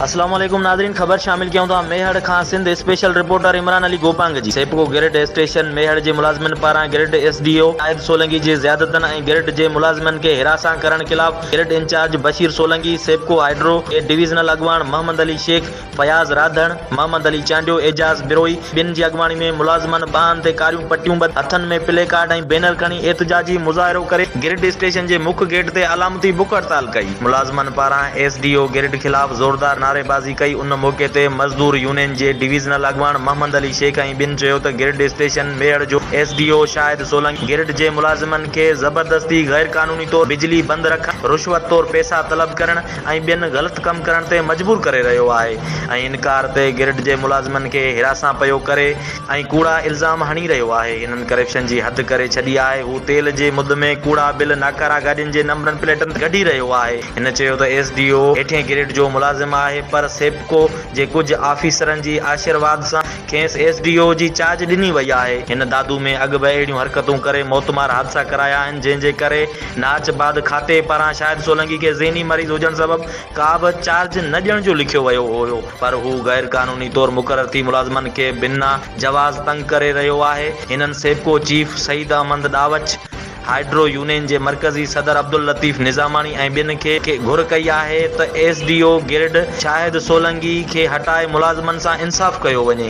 السلام عليڪم ناظرين خبر شامل ڪيون ٿا ميهڙ کان سنڌ اسپيشل رپورٽر عمران علي گوپانگ جي سيپڪو گرڊ اسٽيشن ميهڙ جي ملازمن پاران grid S D O Shahid Solangi جي زيادتن ۽ گرڊ جي ملازمن کي حراسان ڪرڻ خلاف grid incharge Bashir Solangi SEPCO hydro جي ڊويزنل اڳواڻ محمد علي شيخ فياض راڌڻ، محمد علي چانڊيو، اعجاز بروهي ٻين جي اڳواڻي ۾ ملازمن ٻانهن تي ڪاريون پٽيون ٻڌي، هٿن ۾ پلي ڪارڊ ۽ بينر کڻي احتجاجي مظاهرو ڪري گرڊ اسٽيشن جي مک گيٽ تي علامتي بک هڙتال ڪئي. ملازمن پاران ايس ڊي او گرڊ خلاف زوردار نعريبازي ڪئي، ان موقعي تي مزدور يونين جي ڊويزنل اڳواڻ محمد علي شيخ ۽ ٻين چيو ته گرڊ اسٽيشن ميهڙ جو S D O Shahid Solangi grid جي ملازمن کي زبردستي غيرقانوني طور بجلي بند رکڻ، رشوت طور پيسا طلب ڪرڻ، ۽ ٻين غلط ڪم ڪرڻ تي مجبور ڪري رهيو آهي ۽ انڪار تي گرڊ جي ملازمن کي هراسان پيو ڪري ۽ ڪوڙا الزام هڻي رهيو آهي هنن ڪرپشن جي حد ڪري ڇڏي آهي هو تيل جي مد ۾ ڪوڙا بل ناڪارا گاڏين جي نمبرن پليٽن تي ڪڍي رهيو آهي هن چيو ته ايس ڊي او هيٺين گريڊ جو ملازم آهي پر سيپڪو جي ڪجهه آفيسرن جي آشيرواد سان کيس ايس ڊي او جي چارج ڏني وئي آهي هن دادو ۾ اڳ به اهڙيون حرڪتون ڪري موتمار حادثا ڪرايا آهن جنهن جي ڪري ناچ بعد کاتي پاران شاهد سولنگي کي ذهني مريض هجڻ سبب ڪا به چارج نه ڏيڻ جو لکيو ويو هيو پر هو غير قانوني طور مقرر ٿي ملازمن کي بنا جواز تنگ ڪري رهيو آهي هنن SEPCO chief Saeed Ahmed Dahoach hydro union جي مرڪزي صدر عبداللطيف نظاماڻي ۽ ٻين کي گهر ڪئي آهي ته S D O grid Shahid Solangi کي هٽائي ملازمن سان انصاف ڪيو وڃي.